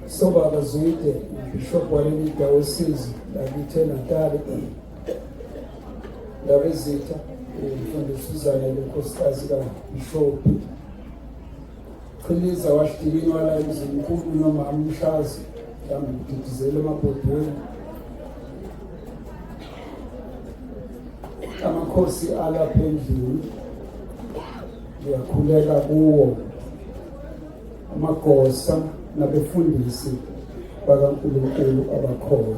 Sobaba Zwide, Bishop Walenida Osizi, Lakithe Natali, Labezitha, Mfundisi Uzanele, Nkosikazi kaBishop Qhiliza wahlikinywa la emzini mkhulu noma amshazi mhlawumbe ngididizele emabhodweni amakhosi alapha endlini ngiyakhuleka kuwo amagosa nabefundisi bakaNkulunkulu abakhona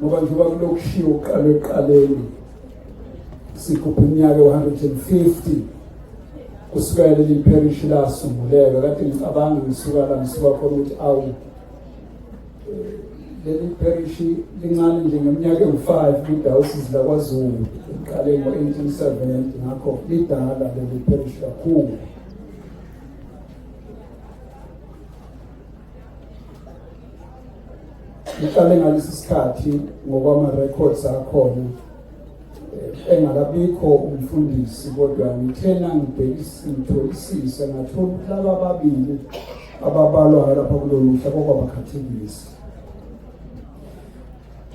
ngoba njengoba kulokushiwo kuqala ekuqaleni sigubha iminyaka u-150 kusukela leli pherishi lasunguleka kade ngicabanga ngisuka la ngisuka khona ukuthi awu leli pherishi lincane nje ngeminyaka engu-five kwidayosisi lakwazulu liqale ngo-eighteen seventy ngakho lidala leli pherishi kakhulu ngihlale ngalesi sikhathi ngokwama-records akhona eh, engakabikho umfundisi kodwa ngithe nangibhekisitholisise ngathola ukuthi laba ababili ababalwayo lapha kulolu hla kwakwabakhathekisi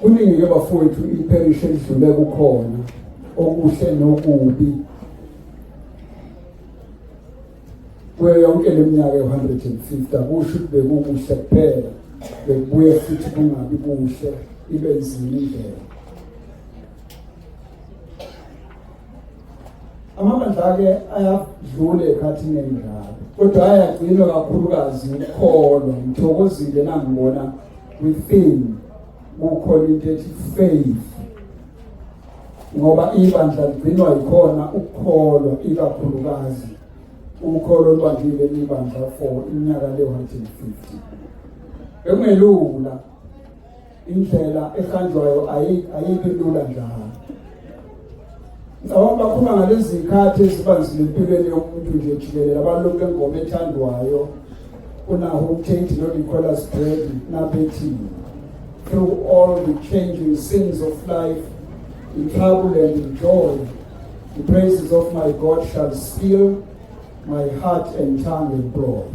kuningi-ke bafowethu iperishi elidlule kukhona okuhle nokubi kuyo yonke le minyaka ewu-150 akusho ukuthi bekukuhle kuphela bekubuye futhi kungabi kuhle ibe nzima indlela amabandla-ke ayadlula ekhathini enjalo kodwa ayagcinwa kakhulukazi ukukholwa ngithokozile nangibona within kukhona into ethi faith ngoba ibandla ligcinwa yikhona ukukholwa ikakhulukazi ukholo olubangile libandla for iminyaka le-150 bekungelula indlela ehanjwayo ayikho lula njalo ngicabanga bakhuluma ngalezi zikhathi ezibanzile empilweni yomuntu nje jikelele abalokhu engoma ethandwayo unaho utate nonicolas bredi nabethini Through all the changing scenes of life, in trouble and in joy, the praises of my God shall seal my heart and tongue with glory.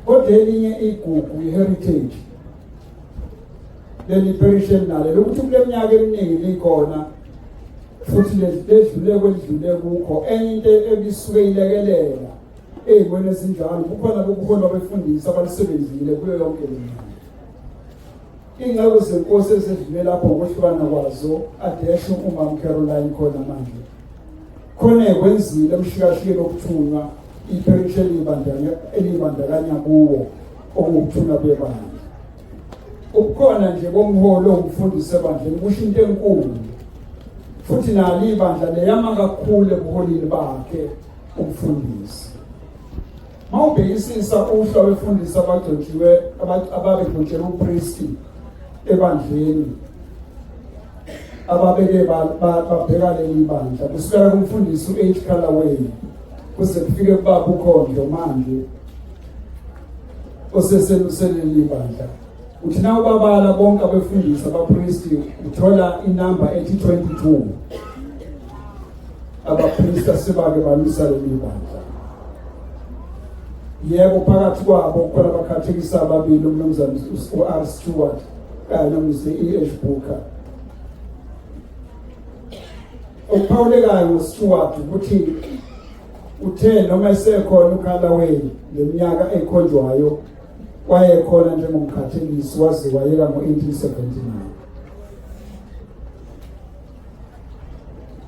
Kodwa elinye igugu i-heritage leli parish elinalo lokuthi kule minyaka eminingi likhona futhi ledlule kwedlule kukho enye into ebisuke ilekelela Ey'mweni ezinjalo kukhona ubuholi abefundisi abalisebenzile kuyo yonke le ndawo. Iy'nceku zenkosi ezedlule lapho ukwehlukana kwazo adeshe umama Caroline khona manje. Khona ekwenzile emshikashikeni okuthunywa ipherishi eliyibandakanya kuwo okuwukuthula kwebandla. Ubukhona nje bomholi owumfundisi ebandleni kusho into enkulu futhi nalo ibandla leyama kakhulu ebuholini bakhe ukufundisa mawubhekisisa uhla wefundisa abagcotshiwe ababegcotshelwe upristi ebandleni ababeke babheka leli bandla kusukela kumfundisi u-h calaway kuze kufike kubaba ukhondlo manje oseseluseleli bandla uthi na ubabala bonke abefundisi abapristi uthola inamba ethi 22 abaphilisa sebake balwisa leli bandla yebo phakathi kwabo khona abakhathekisa ababili umnumzane u-r stewart kanye nomnise i-h booker okuphawulekayo ngostewart ukuthi uthe noma esekhona ukhalaweli ngeminyaka ekhonjwayo wayekhona njengomkhathekisi waze wayeka ngo-1879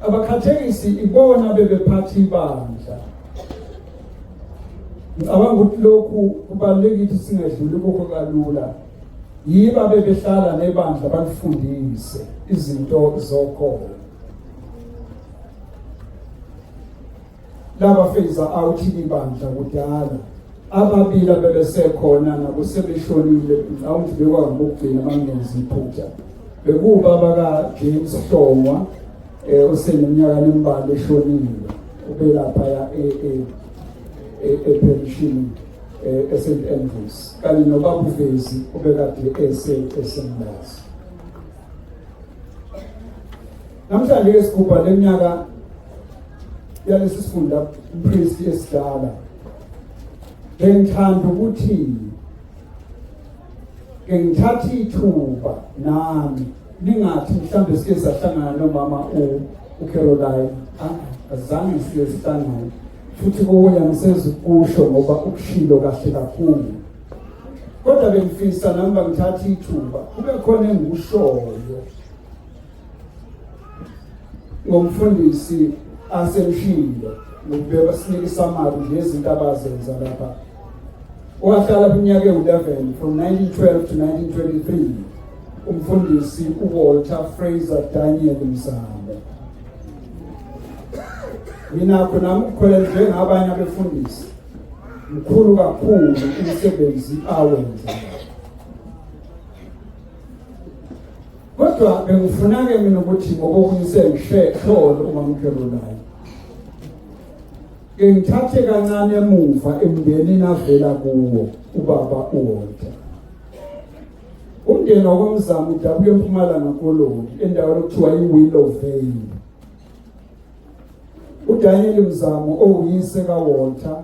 abakhathekisi ibona bebephatha ibandla ngicabanga ukuthi lokhu kubalulekile ukuthi singadluli kukho kalula yiba bebehlala nebandla balifundise izinto zokholo Laba feza out ibandla kudala. Ababili abebesekhona nabo sebeshonile mhlawumbe bekwangokugcina amangenzi iphutha. Bekuba baka James Hlongwa eh oseneminyaka nemibala eshonile ubelapha ya e e e, e pension eh eSt Andrews kanye nobabu Vezi obekade ese esemlazi. Namhlanje-ke sigubha le minyaka yalesi sifunda umpristi esidala bengithanda ukuthi ke ngithatha ithuba nami ningathi mhlawumbe sike sahlangana nomama ucaroline ah, azange sike sihlangane futhi kokunye angisenzi ukusho ngoba ukushilo kahle kakhulu kodwa bengifisa nami bangithatha ithuba kube khona engikushoyo ngomfundisi asemshilo ngokubeka sinike isamari nje izinto abazenza lapha wahlala iminyaka ewu-11 from 1912 to 1923 umfundisi uwalter fraser daniel mzamo nginakho nami ukukholela njengabanye abefundisi mkhulu kakhulu umsebenzi awenza Kodwa bengifuna-ke mina ukuthi ngokokunye sengihlole umamkhelo naye. Ke ngithathe kancane emuva emndenini avela kuwo ubaba uWalter. Umndeni wakwamzamo udabuka empumalanga koloni endaweni okuthiwa iWillow Vale. UDaniel Mzamo owuyise kaWalter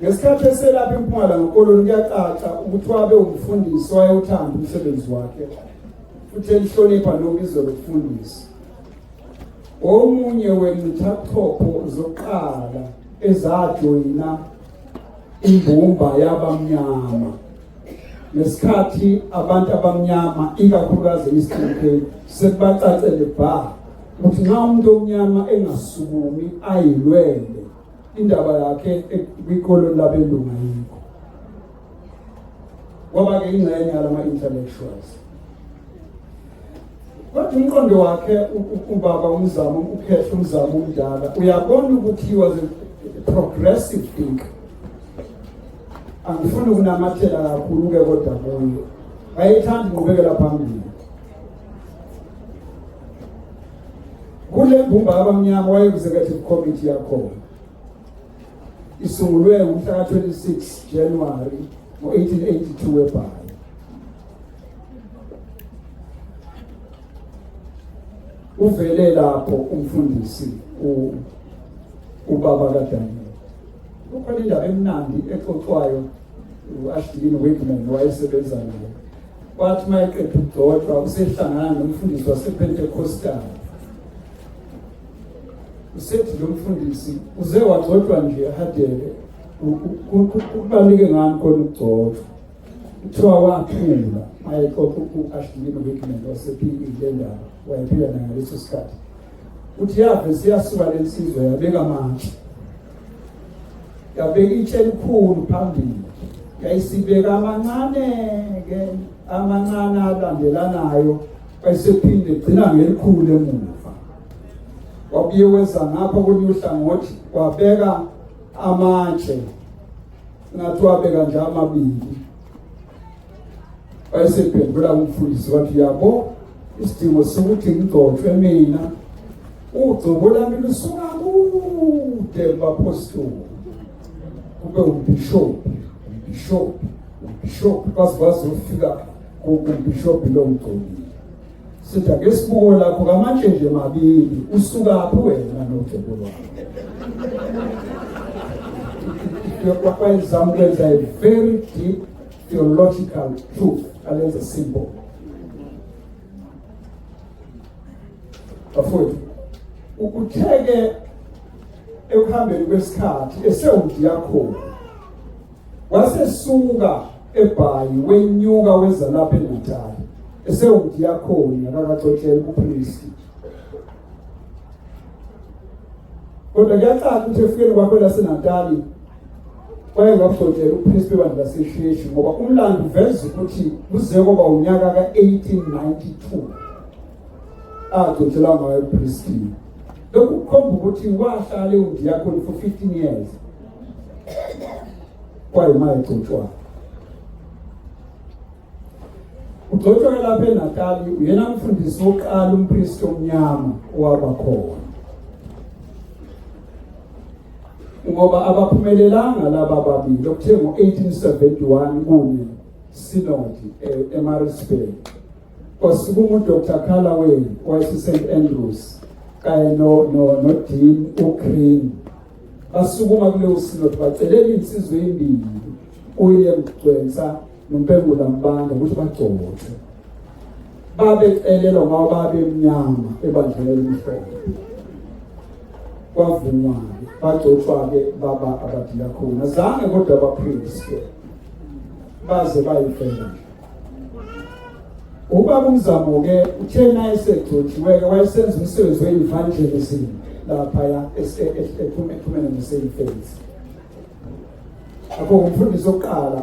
ngesikhathi eselapha empumalanga koloni kuyacaca ukuthi wabe umfundisi wayewuthanda umsebenzi wakhe futhi elihlonipha nobizo lokufundisa omunye wenithathopho zokuqala ezajoyina imbumba yabamnyama ngesikhathi abantu abamnyama ikakhulukazi eastern cape sekubacacele bha ukuthi nxa umuntu omnyama engasukumi ayilwele indaba yakhe kwikoloni labelungu ayikho kwaba-ke ingxenye yalama-intellectuals kodwa umqondo wakhe ubaba umzamo ukhehla umzamo umdala uyabona ukuthi he was a progressive thinker angifuni ukunamathela kakhulu-ke kodwa kuyo wayethanda inqubekela phambili kule mbumba abamnyama wayeku-executive committee yakhona isungulwe ngomhla ka-26 januwari ngo-1882 webhayi uvele lapho umfundisi ubaba kadaniel kukhona indaba emnandi exoxwayo u-ashilini wigman wayesebenza nayo Wathi uma eqeda ukugcotshwa usehlangana nomfundisi wasePentecostal. Usethi lo mfundisi uze wagcotshwa nje ehadele kubaluleke ngani khona ukugcotshwa. Kuthiwa waphula mayexoxa u-Ashley Wickman wasePE le ndaba wayephila nangaleso sikhathi. Uthi yave siyasuka lensizwa yabeka amathe. Yabeka itshe elikhulu phambili. Yayisibeka amancane ke amancane alandelanayo wayesephinde gcina ngelikhulu emuva. Wabuye weza ngapha kolunye uhlangothi wabeka amatshe ngathi wabeka nje amabili wayesephendula umfundisi wathi yabo isidingo sokuthi ngigcotshwe mina ugcobo lami lusuka kude kubapostoli kube umbhishobhi umbhishobhi umbhishobhi baze bazofika kumbhishobhi lo mgcobile sithi ake sibuko lakho kamatshe nje mabili usukaphi wena nogcobo lwakho kwakwenza ukwenza a very deep theological truth alenze simple bafowethu ukutheke ekuhambeni kwesikhathi esewudiyakhona wasesuka ebhayi wenyuka weza lapha eNatal esewudiyakhona akakaxoxela kuphristi kodwa kuyacaca ukuthi efikeni kwakho laseNatali Kwake ngafotela uPriest webandla laseHleshi ngoba umlando uveza ukuthi kuze kwaba unyaka ka-1892 agcotshelwa ngayo uPriest. Lokhu kukhomba ukuthi wahlala ewundiyakoni for 15 years kwayimali egcotshwayo Ugcotshwe lapha eNatali uyena mfundisi wokuqala umpristi omnyama owaba khona. Ngoba abaphumelelanga laba babili okuthe ngo-1871 kunye sinodi e- eMaritzburg. Kwasukuma uDr Callaway wayeseSt Andrews kanye noDean uGreen. Basukuma kuleyo sinodi bacelela insizwa embili uWilliam Gcwensa nompengula mbanda ukuthi bagcothe babecelelwa ngoba babemnyama ebandleni elimhlophe kwavunywa-ke bagcotshwa-ke baba abadiyakhona zange kodwa baphilise baze bayifela ubaba umzamo-ke uthena esegcotshiwe-ke wayesenza umsebenzi we-evangelism laphaya ephumene neseyifensi akho ngumfundisi oqala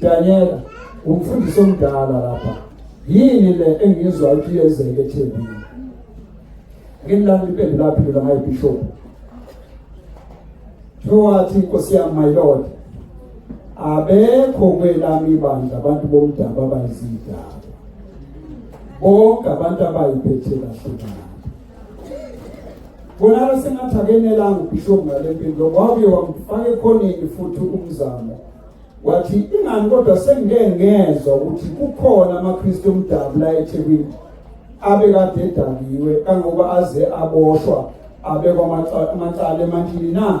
Danyela umfundisi omdala lapha yini le engizwa ukuthi yenzeke ethembini ngimlanda impembe laphi lona ngaye bishop Thowathi inkosi yami my lord abekho kwelami ibandla abantu bomdaba abayizidaba bonke abantu abayiphethe kahle Kunalo sengathi akenelanga ubishop ngale mpilo wabuye wamfaka ekhoneni futhi umzamo wathi ingani kodwa sengike ngezwa ukuthi kukhona amaKristu omdabu la eThekwini abekade edakiwe kangoba aze aboshwa abekwa amacala emantini na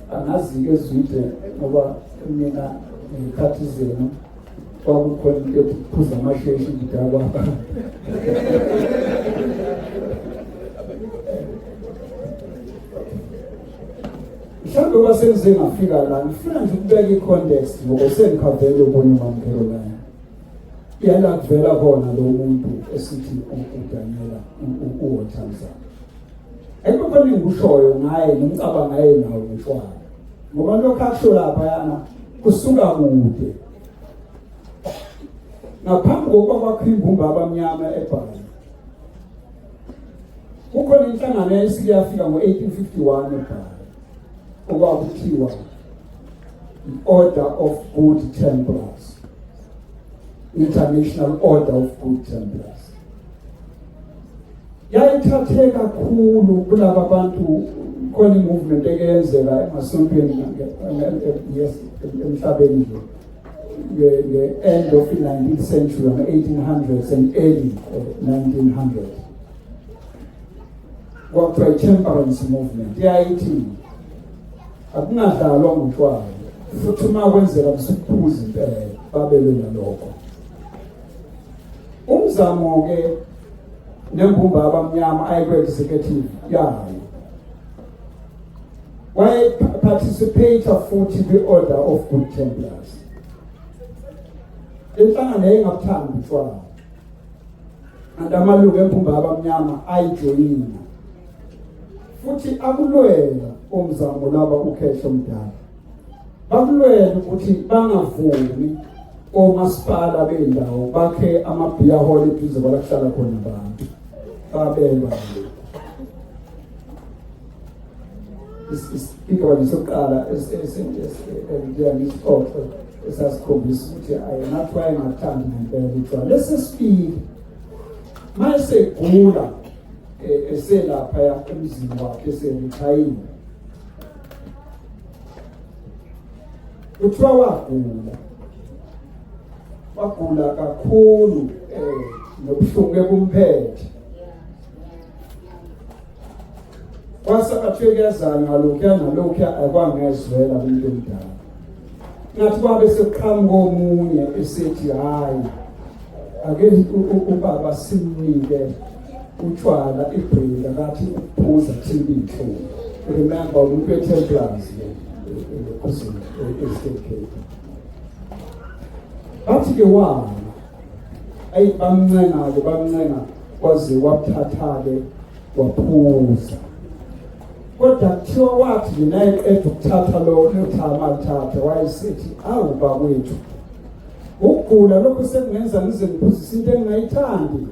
angazi into ezwide ngoba mina ngiyikhathi zenu kwakukhona into ethi phuza amasheshi ngidakwa mhlawumbe uba sengize ngafika la ngifuna nje ukubeka i-context ngoba sengikhavele ubona umamkelo laya yala kuvela khona lo muntu esithi udanela uwothanzana Ayikho khona engikushoyo ngaye ngimcabanga yena nawo ngishwayo. Ngoba lokho akusho lapha yana kusuka kude. Ngaphambi kokuba kwakho imbumba abamnyama ebhali. Kukhona inhlangano yayisike yafika ngo-1851 ebhali okwakuthiwa i-Order of Good Templars. International Order of Good Templars. yayithathe kakhulu kulaba bantu khona imovement ekeyenzeka emasontweni emhlabeni nje nge-end of i-19th century ama-1800s and early 1900 eh, kwakuthiwa i-temperance movement yayithi akungadlalwa ngotshwala futhi uma kwenzeka msiphuzi impela babelwe nalokho umzamo ke nembumba abamnyama ayekwe executive yayo waye participate futhi kwi order of good templars inhlangano yayingabuthandi utshwala kanti amalungu embumba abamnyama ayijoyina futhi akulwela umzamo laba ukhehlo mdala bakulwele ukuthi bangavumi omasipala bendawo bakhe amabhiya hall eduze kwalakuhlala khona abantu babelwa isigigabani sokuqala esiyangisiqoqo esasikhombisa ukuthi ayenathi wayengathandi ngempela utshwala lesi sibili ma esegula eh, eselapha emzini wakhe eserithayile kuthiwa wagula wagula kakhulu eh nobuhlungu bekumphethe kwase bathiwe kuyazana ngalokhuya nalokhuya akwangezwela umuntu omdala ngathi babe sekuqhamuka omunye esethi hhayi ake ubaba simnike utshwala ibhringa kathi ukuphuza kuthiba iy'nhlungu remember umuntu we-templars ekhuzini e-state cape bathi-ke wala ayi bamncenga-ke bamncenga kwaze wabuthatha-ke waphuza kodwa kuthiwa wathi nje naye qeda ukuthatha lowo lotha amalithatha wayesithi awu bakwethu ukugula lokhu sekungenza ngize ngiphuzise into engingayithandi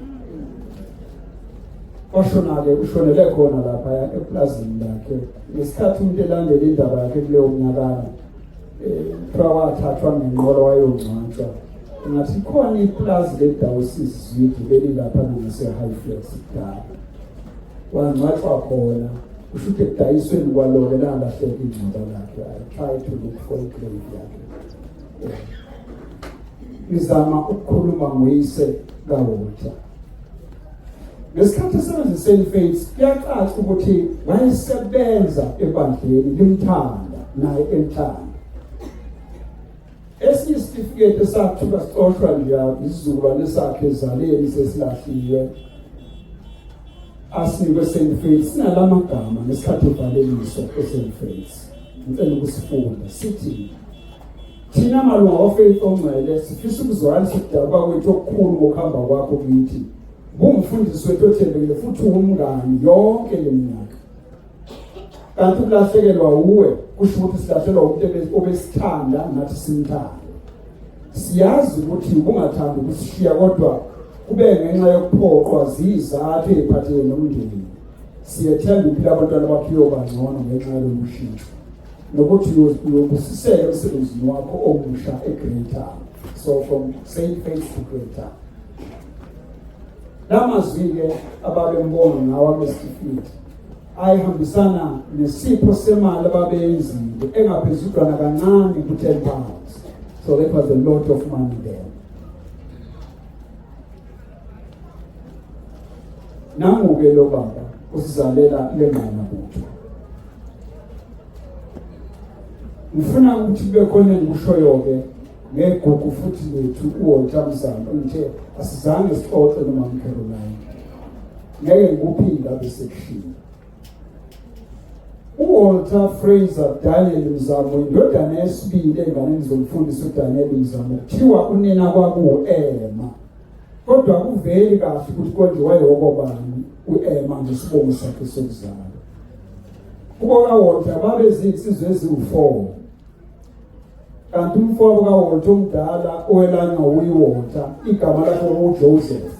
washona-ke ushonele khona lapha epulazini lakhe ngesikhathi umuntu elandela indaba yakhe kuleyo mnyakana eh, kuthiwa wathathwa ngenqolo wayongcwatshwa ngathi khona ipulazi ledawusisi zwidi belilapha nangasehigh flex kudala wangcwatshwa khona kusho ukuthi ekudayisweni kwalona lalahleka ingcwaba lakhe i try to look for igrave yakhe ngizama ukukhuluma ngoyise kaWalter ngesikhathi esebenzise ifaith kuyacaca ukuthi wayesebenza ebandleni limthanda naye emthanda esinye isitifiketi esathuka sicoshwa nje isizukulwane sakhe ezaleni sesilahliwe asinikwe St Faith sinalama gama ngesikhathi ubhaleliso eSt Faith ngicela ukusifunda sithi Thina malunga oFaith Ongcwele sifisa ukuzwakalisa ukudabuka kwethu okukhulu ngokuhamba kwakho kithi. Bungumfundisi wethu othembekile futhi ungumngani yonke le minyaka. Kanti ukulahlekelwa uwe kusho ukuthi silahlekelwa umuntu obesithanda nathi simthanda. Siyazi ukuthi ubungathandi ukusishiya kodwa kube ngenxa yokuphoqwa zizathu eziphathelene nomndeni. Siyethemba impilo abantwana bakho iyoba ngcono ngenxa yalolu shintsho. nokuthi uyobusisela emsebenzini wakho omusha eGreater so from St Faith to Greater la mazwi-ke ababembonga ngawo abesitifiketi ayihambisana nesipho semali ababeyenzile engaphezudlwana kancane ku-ten pounds so that was a lot of money there nangu-ke lo baba usizalela le ngqana butho ngifuna ukuthi kube khona engikushoyo-ke ngegugu futhi lethu uwontsha mzamo ngithe asizange sixoxe noma mcaroline ngeke ngikuphinda besekushini uwalter fraser daniel mzamo indodana yesibili enganeni zomfundisi udaniel mzamo kuthiwa unina kwakuwu-ema Kodwa kuveli kahle ukuthi konje wayewokobani u-Ema ngesibongo sakhe sokuzalwa. Kubo kaWolta babezinsizwa eziwu-four kanti umfowabo kaWolta omdala owelanywa wuyiWolta igama lakhe kwakuwuJoseph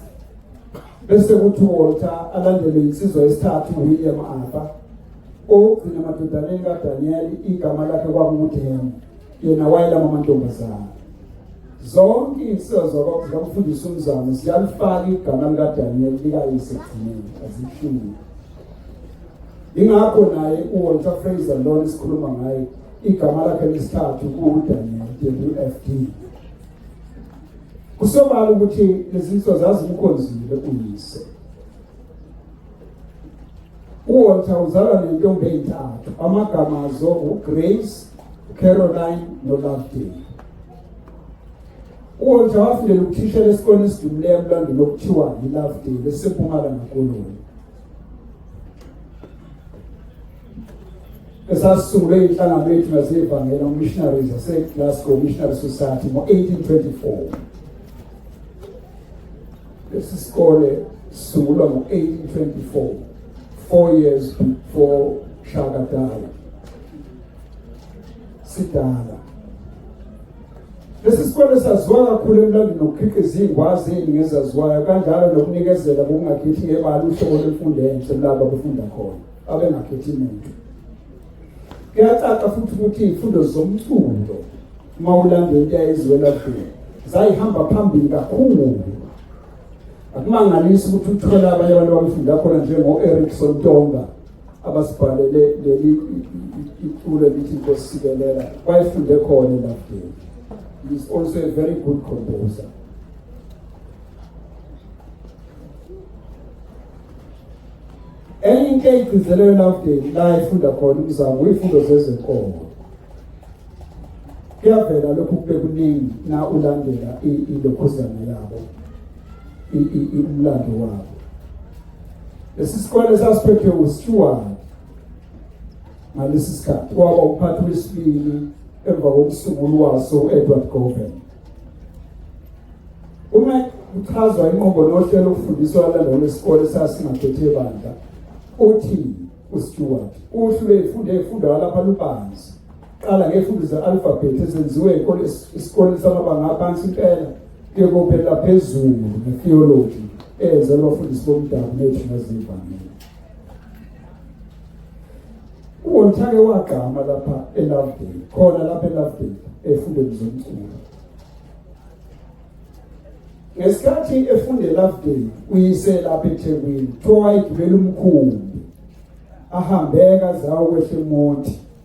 bese kuthi uWolta alandelwe yinsizwa yesithathu uWilliam Arthur owokugcina emadodaneni kaDaniyeli igama lakhe kwakuwuDema yena wayelama amantombazane Zonke izinsizwa zakwabo zikamfundisi uMzamo ziyalifaka igama likaDaniel likayise ekugcineni azihlungi. Ingakho naye uWalter Fraser lona esikhuluma ngaye igama lakhe lesithathu kuwuDaniel WFD. Kusobala ukuthi lezi nsizwa zazimkhonzile uyise. UWalter uzalwa nentombi eyintathu amagama azo uGrace, uCaroline noLovedale. UWalter wafundela ukuthishela esikoleni esidumileyo emlandweni okuthiwa yiLovedale esiseMpumalanga Koloni. esasisungulwe inhlangano yethu nasevangela umissionaries aseglasgow missionary society ngo-1824 lesi sikole sisungulwa ngo-1824 four years before shaka died sidala lesi sikole saziwa kakhulu emlandweni nokukhiqiza iy'ngwazi eziningi ezaziwayo kanjalo nokunikezela kokungakhethi ngebala uhlobo lwemfundo enhle kulabo abefunda khona abengakhethi muntu kuyacaca futhi ukuthi iy'fundo zomculo uma ulandela into yayizwela kudeni zayihamba phambili kakhulu akumangalisi ukuthi uthole abanye abantu abafunda khona njengo-erikson tonga abasibhalele leli iculo lithi inkosi sikelela wayefunde khona elafdeni he is also a very good composer enye into eyigcizelelo elafdeni la efunda khona umzamo uyifundo zezenkolo kuyavela lokhu kube kuningi na ulandela ilokhuzana yabo umlando wabo lesi sikole sasiphethwe uStewart ngalesi sikhathi kwaba umphathi wesibili emva kokusungulu waso u-edward goven uma kuchazwa inqobo nohlelo ukufundiswa alandela lwesikole sasingathethe bandla uthi uStewart uhlwe efunde efunda lapha lubanzi Qala ngefundo ze-alphabet ezenziwe esikoleni samabanga aphansi impela kuye kophelela phezulu ngetheology eyenzelwa abafundisi bomdabu bethu nezivangeli uwonthake wagqama lapha elovedale khona lapha elovedale efundweni zomculo ngesikhathi efunde elovedale uyise lapha ethekwini kuthiwa wayegibela umkhumbi ahambeka zawo kwehle monti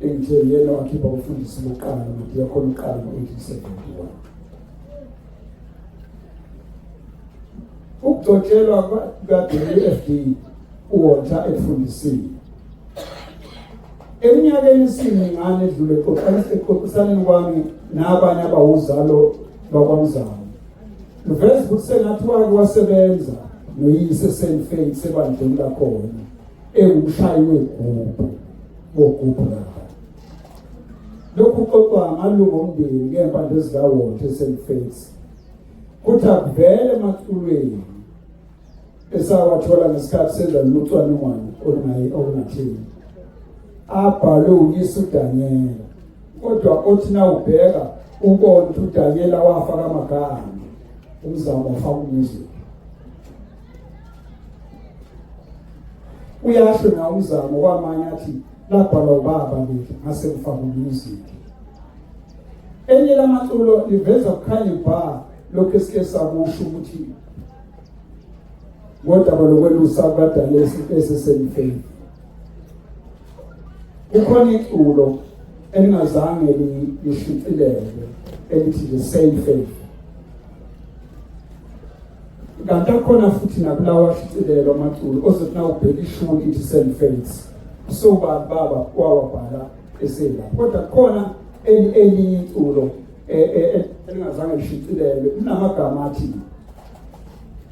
engithe yena wakhipha umfundisi bokuqala nodiyakhona uqala ngo-1871 ukugcotshelwa kukadfd uwonta ekufundisile eminyakeni isiningane edlule exoxisaneni kwami nabanye abawuzalo bakwamzamo luveza ukuthi sengathi wake wasebenza noyise senifei sebandleni lakhona ewumshayi wegubhu wogubhu lapha lokhu kuxoxwa amalungu omndeni ngey'mpande ezikawonke eSt Fates kuthi akuvele emaculweni esawathola ngesikhathi senza lolu cwaningwane olungatheni abhalwe uyise uDanyela kodwa othi na ubheka ubona ukuthi uDanyela wafa kamagama umzamo wafa umuzi uyahle ngawo umzamo kwamanye athi labhalwa ubaba leli ngase ngifaka umusic enye lamaculo liveza kukhanye bha lokhu esike sakusho ukuthi ngodaba lokwelusa abadala esisemfeni kukhona iculo elingazange lishicilelwe elithi the same faith kanti akhona futhi nakulawa ashicilelo amaculo ozothi nawubheka ishuni ithi selfates so bani baba wawabhala esela kodwa khona elinye iculo e, e, e, elingazange lishicilelwe linamagama athi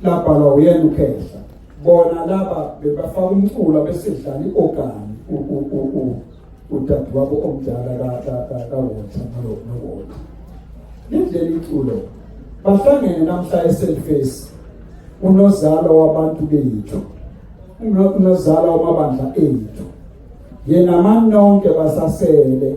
labhalwa uyena ukhehla bona laba bebafaka umculo besedlala i-ogani udadewabo omdala kawota nowota lindlela iculo bahlangene namhla eselface unozalo wabantu bethu unozalo wamabandla ethu yena mani nonke basasele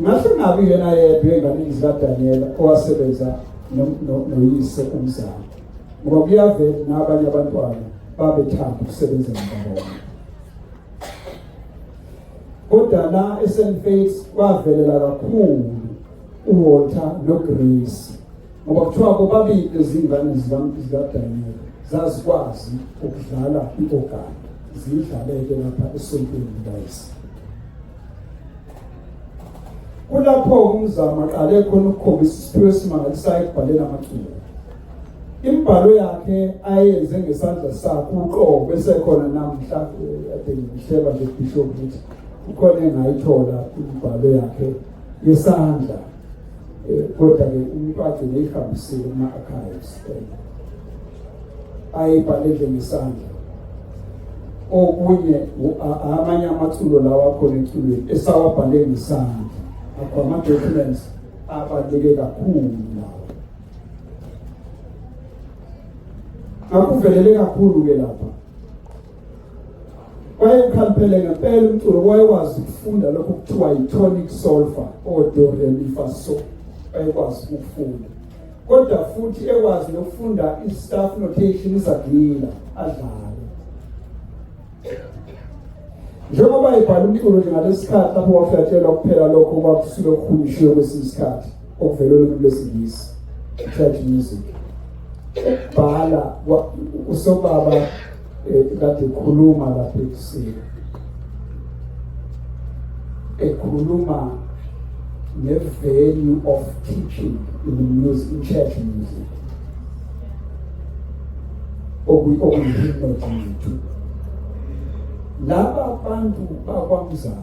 Ngasingabi yena yedwa enganini zikaDaniyela owasebenza noyise umzali ngoba kuyavela nabanye abantwana babethanda ukusebenza nababona kodwa la eSt Faiths kwavelela kakhulu uWalter noGrace ngoba kuthiwa bobabili ezingane zikadanyela zazikwazi ukudlala i-ogani ziyidlaleke lapha esontweni likayise kulapho umzamo aqale khona ukukhombisa isiphiwo esimangalisayo ekubhaleni amaculo imbhalo yakhe ayenze ngesandla sakhe uqobo bese khona namhla ade ngihleba nje bishop ukuthi ukhona engayithola imbhalo yakhe yesandla Eh, kodwa ke umfazi ngiyihambisile kuma-archives eh, ayibhalele ngesandla okunye amanye amathulo lawa akhona emculweni esawabhale ngesandla akho ama-documents abaluleke kakhulu lawa akuvelele kakhulu-ke lapha wayekhampele ngempela umculo wayekwazi ukufunda lokho kuthiwa yi-tonic solfa odoremifaso wayekwazi ukufunda kodwa futhi ekwazi nokufunda i-staff notation izagila adlale njengoba ebhala umculo nje ngalesi sikhathi lapho waflatshelwa kuphela lokho kwakusuke kuhunyishiwe kwesinye isikhathi okuvele olwimi lwesingisi church music bhala usobaba kade khuluma lapha ekusile ekhuluma nge-value of teaching in the music in church music okuyihimnodintu laba bantu bakwamzana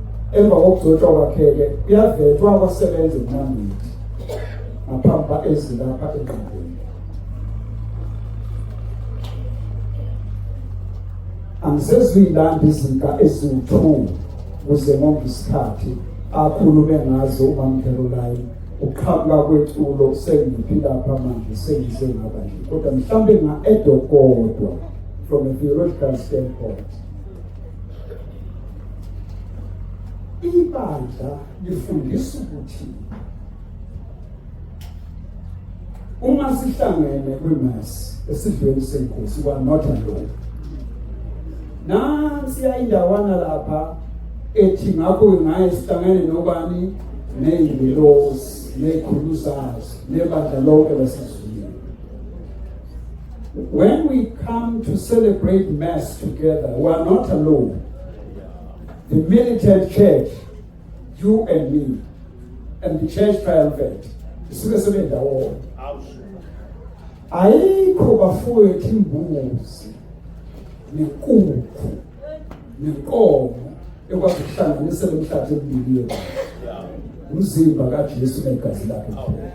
Emva kokugcotshwa kwakhe-ke kuyavetwa abasebenzi kunambili ngaphambi kwa-ezi lapha engqondweni. Angisezuyilanda izinka eziwu-two kuze ngonke isikhathi akhulume ngazo umamkherolayi uqhamuka kweculo sengiphi lapha manje sengize ngaba nje kodwa mhlawumbe nga-edokodwa from a theological standpoint ibandla lifundisa ukuthi uma sihlangene kwimass esidlweni senkosi kwanotha lokho nansi yayindawana lapha ethi ngakho ngaye sihlangene nobani neyingilosi neyikhulu zazo nebandla lonke lasezulwini When we come to celebrate Mass together, we are not alone. The militant church, you and me, and the church triumvirate, isuke sebendawonye. Ayikho bafowethu imbuzi nenkukhu nenkomo ekwazi ukuhlanganisa lo mhlathi emibili yethu. Umzimba kaJesu negazi lakhe kuphela.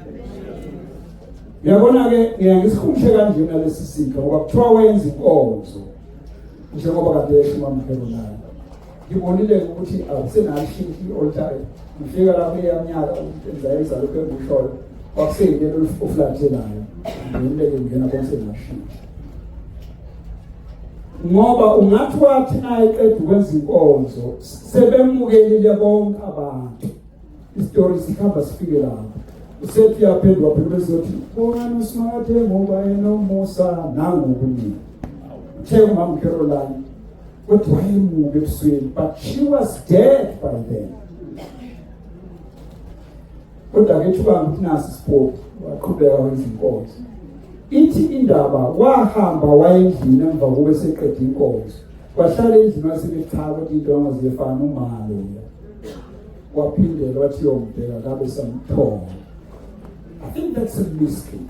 Uyabona-ke ngiyangisikhumshe kanjena lesi sika ngoba kuthiwa wenza inkonzo njengoba kade esho umamhelo nayo ngibonile ukuthi akusenalishintsha i-oltare ngifika lapho eyamnyaka enza enza lokhu enguhlolo kwakuseyilelo ofulathelayo ngileke ngena konse ngashintsha ngoba ungathi wathi naye qeda ukwenza inkonzo sebemukelile bonke abantu Isitori sikhamba sifike lapho. Usethi yaphendwa phela bese uthi bongani uSmart ngoba enomusa nangu kunini. Uthe umama Caroline kodwa wayemuke ebusweni but she was dead by then. Kodwa ke thuba ukuthi nasi sipho waqhubeka wenza inkonzo. Ithi indaba wahamba wayendlini emva kokuba seqede inkonzo. Wahlala endlini wasebechaza ukuthi into angaziyefana umalo. waphinde wathi yombheka kabe samthola i think that's a mystery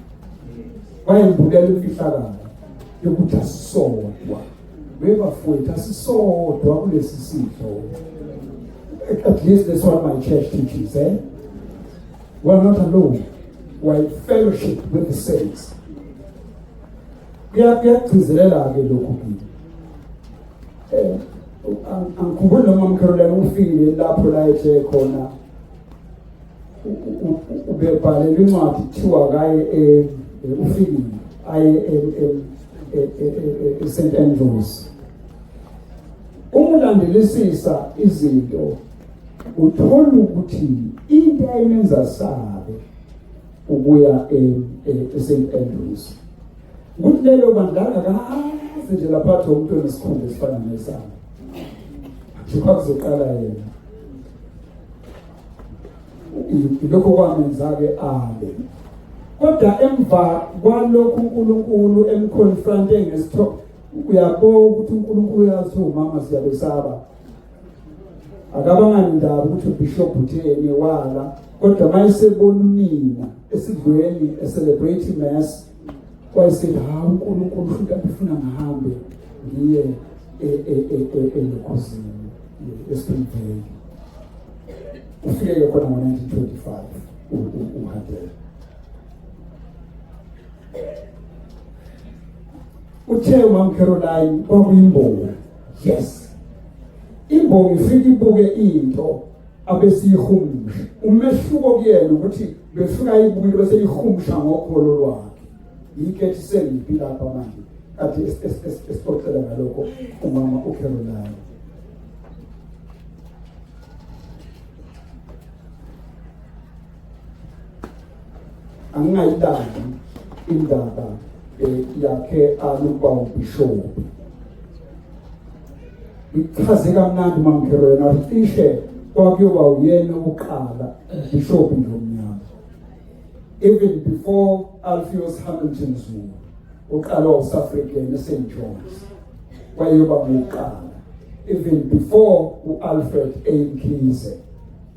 wayembukela imfihlakalo yokuthi asisodwa webafowethu asisodwa kulesi sidlo at least that's what my church teaches eh we are not alone we are in fellowship with the saints kuyagcizelela-ke lokhu kimi eh angikhumbuli noma mkharolela ufile lapho la ethe khona ubebhalelwa incwadi kuthiwa kaye eh, eh, ufile aye e-st andrews umulandelisisa izinto uthola ukuthi into ayimenza sabe ukuya e-st andrews Kulelo bandanga kaze nje lapha athi umuntu onesikhumba esifana nesami. Thipha kuzoqala yena. Lokho kwamenza-ke ale. Kodwa emva kwalokhu uNkulunkulu emconfronte ngesithobo uyabo ukuthi uNkulunkulu uyazi umama siyabesaba akabanga ndaba ukuthi ubishop utheni wala kodwa mayesebona unina esidlweni e celebrate mass Wayesithi hawu uNkulunkulu futhi akufuna ngihambe ngiye elokhuzini esiphindipheli ufike khona ngo-1925 uhadela uthe umamcaroline kwakuyimbonga yes imbonga ifike ibuke into abesiyihumsha umehluko kuyena ukuthi befuna ibuyile bese lihumsha ngokholo lwakhe yike sengipi lapha manje kade esixoxela ngalokho umama uCaroline angingayidandi indaba eh, yakhe alukwa ubishophu ichaze kamnandi mamkhelo yena cishe kwakuyoba uyena oqala ubishophu ngomnyama even before alfios hamilton zuma uqala wase african esaint johns wayoba ngokuqala even before u-alfred a mkhize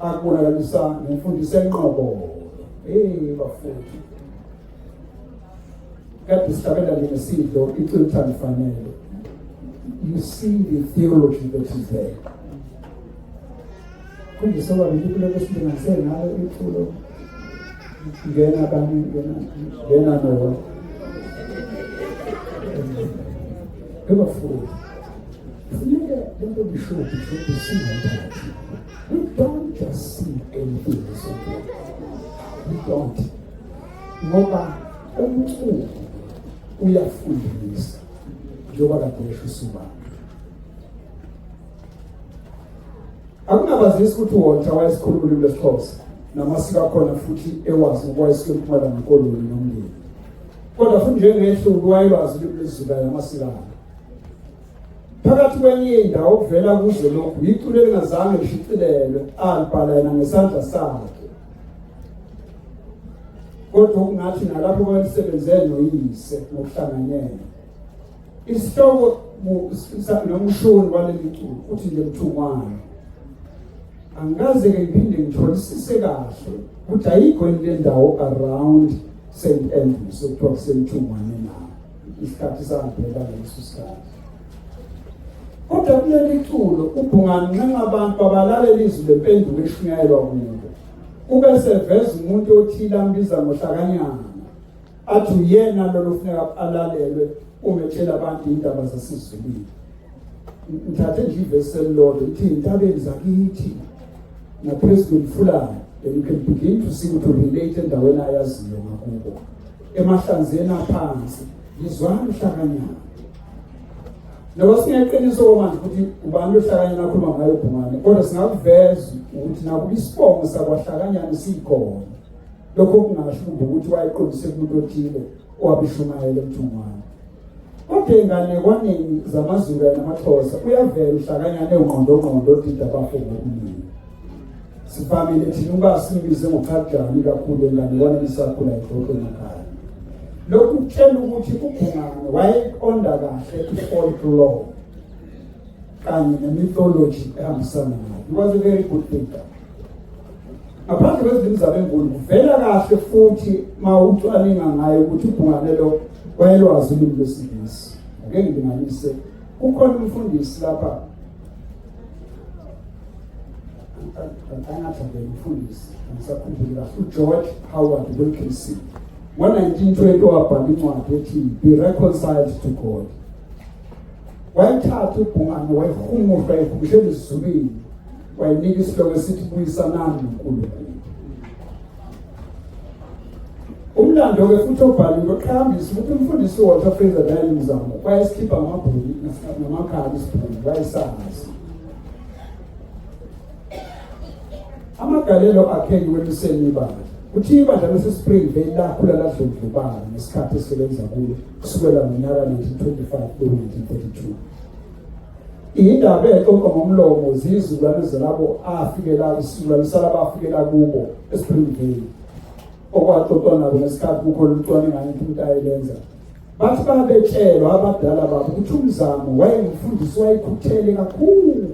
akubonakalisa nemfundiso enqobo hey bafowethu kade sihlabela le ngesidlo icwetha lifanele you see the theology that is there kundisa babili kuloko silinganise ngayo iculo ngena kami ngena ngena nowa ebafowethu funeka lento bishophi shophi singathathi We don't just see anything this way. We don't. Ngoba umculo uyafundisa njengoba kade esho usibaba. Akunabazisi ukuthi wonke wayesikhuluma ulimi lesiXhosa namasiko akhona futhi ewazi ukwayisika empumalanga koloni nomndeni. Kodwa futhi njengehlu wayelwazi ulimi lwezizibaya namasiko akhe. phakathi kwenye indawo kuvela kuze lokhu yiculo elingazange lishicilelwe alibhala yena ngesandla sakhe kodwa okungathi nalapho kwalisebenze noyise ngokuhlanganyela isihloko nomshoni waleli culo uthi nje mthungwana angikaze-ke ngiphinde ngitholisise kahle ukuthi ayikho yini le ndawo around st andrews okuthiwa kusemthungwane isikhathi sangaphela ngaleso sikhathi kodwa kuleli culo ubhungani nxenxa abantu babalalela izwi lempendulo eshunyayelwa kubo kube seveza umuntu othile ambiza ngohlakanyana athi uyena lolo funeka alalelwe uma etshela abantu indaba zasezulwini ngithathe nje ivesi elilodwa ukuthi intabeni zakithi naphezu kwemfulane then you can begin to see ukuthi urelate endaweni ayaziyo ngakubo emahlanzeni aphansi ngizwani uhlakanyana noba singeqiniso komanje ukuthi ubani lohlakanyana akhuluma ngayo ubhungane kodwa singakuveza ukuthi nakuba isibongo sakwahlakanyana sikhona lokho kungasho ukuthi wayeqondise kumuntu othile owabishumayela emthungwane Kodwa ey'nganekwaneni zamaZulu namaXhosa uyavela uhlakanyana ewungqondongqondo odida abafo ngokuningi. Sivamile thina ukuba simbize ngochadlani kakhulu enganekwaneni sakhula ixoxo emakhaya. Lokhu kutshela ukuthi uGungane wayeqonda kahle i-folklore kanye ne-mythology ehambisana nayo. He was a very good thinker. Ngaphandle kwezimizamo enkulu kuvela kahle futhi uma ucwaninga ngayo ukuthi uBhunganelo wayelwazi ulimi lwesiNgisi. Ake ngilinganise kukhona umfundisi lapha angathandela umfundisi angisakhumbuli kahle uGeorge Howard Wilkinson ngo-1920 wabhala incwadi ethi be reconciled to God wayethatha ubhungane wayihumushwa ekhumishela izulwini wayinika isihloko esithi buyisanani noNkulunkulu umlando-ke futhi obhaliwe uqhakambisa ukuthi umfundisi uwalter fraser dayile mzamo wayesikhipha ngamabhuli namakhali isibhuli wayesazi amagalelo akhe ngiweluseni ibandla kuthi ibandla lasespring vale lakhula ladlondlobala ngesikhathi esisebenza kulo kusukela ngonyaka 1925 ku-1932 Indaba exoxwa ngomlomo ziyizukulwane zalabo afikela isizukulwane salabo afikela kubo esiphindile okwaxoxwa nabo ngesikhathi kukhona umcwaningo into umuntu ayelenza bathi babetshelwa abadala babo ukuthi umzamo wayengumfundisi wayekhuthele kakhulu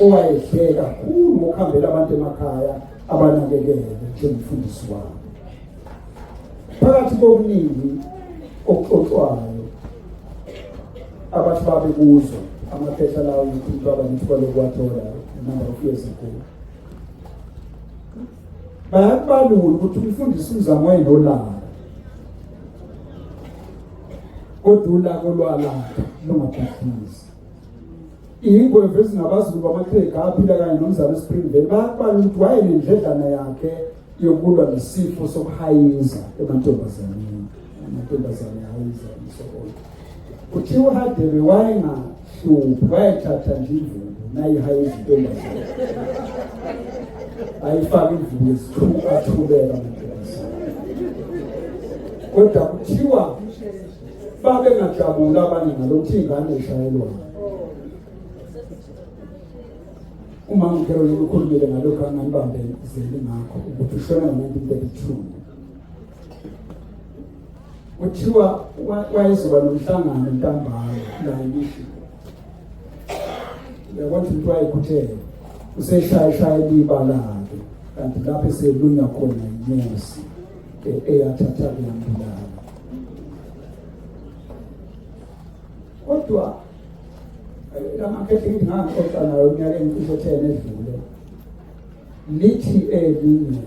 owayedle kakhulu ngokuhambela abantu emakhaya abanakekele njengomfundisi wabo phakathi kokuningi okuxoxwayo abathi babe kuzo amaphesha lawo ukuthi baba nithole ukuwathola number of years ago bayakubalula ukuthi umfundisi umzamo enolaka kodwa ulaka olwalaka lungabhidlizi iyingweve ezingabazulu bamakhekha aphila kanye nomzana espringvale bayakubalula ukuthi wayenendledlana yakhe yokulwa nesifo sokuhayiza emantombazaneni amantombazane ahayiza umsokoyo kuthiwa uhadebe wayengahluphi wayethatha nje imvubu nayihayiza intombazane ayifaka imvubu yesithuku athubeka amantombazane kodwa kuthiwa babengajabula abanye ngalo kuthi ingane ishayelwayo Uma ngikhona ukukhulumela ngalokho anganibambe zeli ngakho ukuthi ushona ngo-1932 kuthiwa wayezoba nomhlangano ntambama la ngisho uyabona ukuthi wayekhuthele useshayeshaya libalake kanti lapho eselunywa khona inyosi eyathatha kuyambulala kodwa lamakhethi ngithi ngangixoxa nayo unyaka engicishe ethene edlule lithi elinye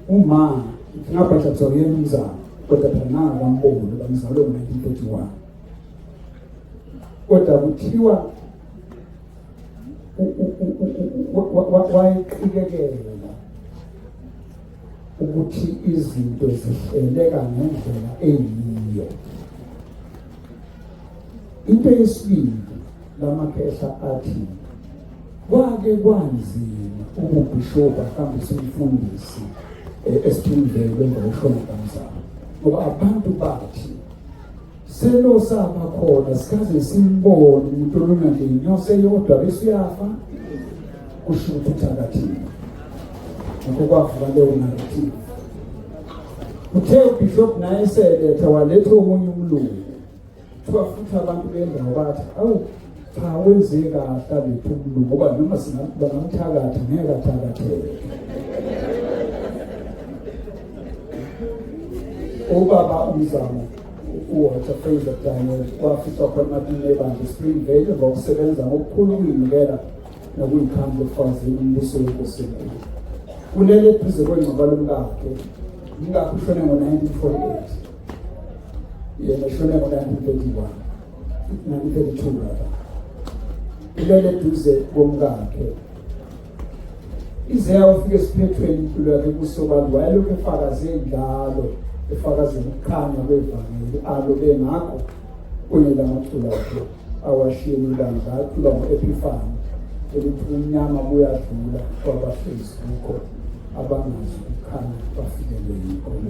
uma ngabhadla kuzona yena umzamo kodwa phela nangakamboni uba ngizalwe ngo-nineteen forty one kodwa kuthiwa wayiqikelela ukuthi izinto zihleleka ngendlela eyiyo Into yesibili lamakhehla athi kwake kwanzima ububhishobhu ahambise umfundisi eh, esithunzeni emva kokushona kamzala ngoba abantu bathi selo saba khona sikaze simbone umuntu olona nje inyosi eyodwa bese uyafa kusho ukuthi uthakathile ngakho kwavuka leyo narrative uthe ubishop naye eseletha waletha omunye umlungu Kuthiwa futhi abantu bendawo bathi awu cha wenze kahle abethumulu ngoba noma singabangamthakatha ngeke athakatheke ubaba umzamo uwater fraser daniel wafica khona amatini ebandla spring vale ngokusebenza ngokukhulu ukuyinikela nokuyikhandla ekufazini umbuso wenkosi enkulu kulele eduze kwengcwaba lomkakhe umkakhe ushone ngo-1948 yena ushone ngo-1931 1932 lapha ulele duze komkakhe ize yawafika esiphethweni impilo yakhe kusobantu wayelokhu efakaze njalo efakaze ukukhanya kwevangeli alo bengakho kunela maculo akhe awashiye ilanga aculwa ngo-ephifani ukuthi umnyama buyadlula kwabahlezi kukho abangazi ukukhanya bafikelele inkolo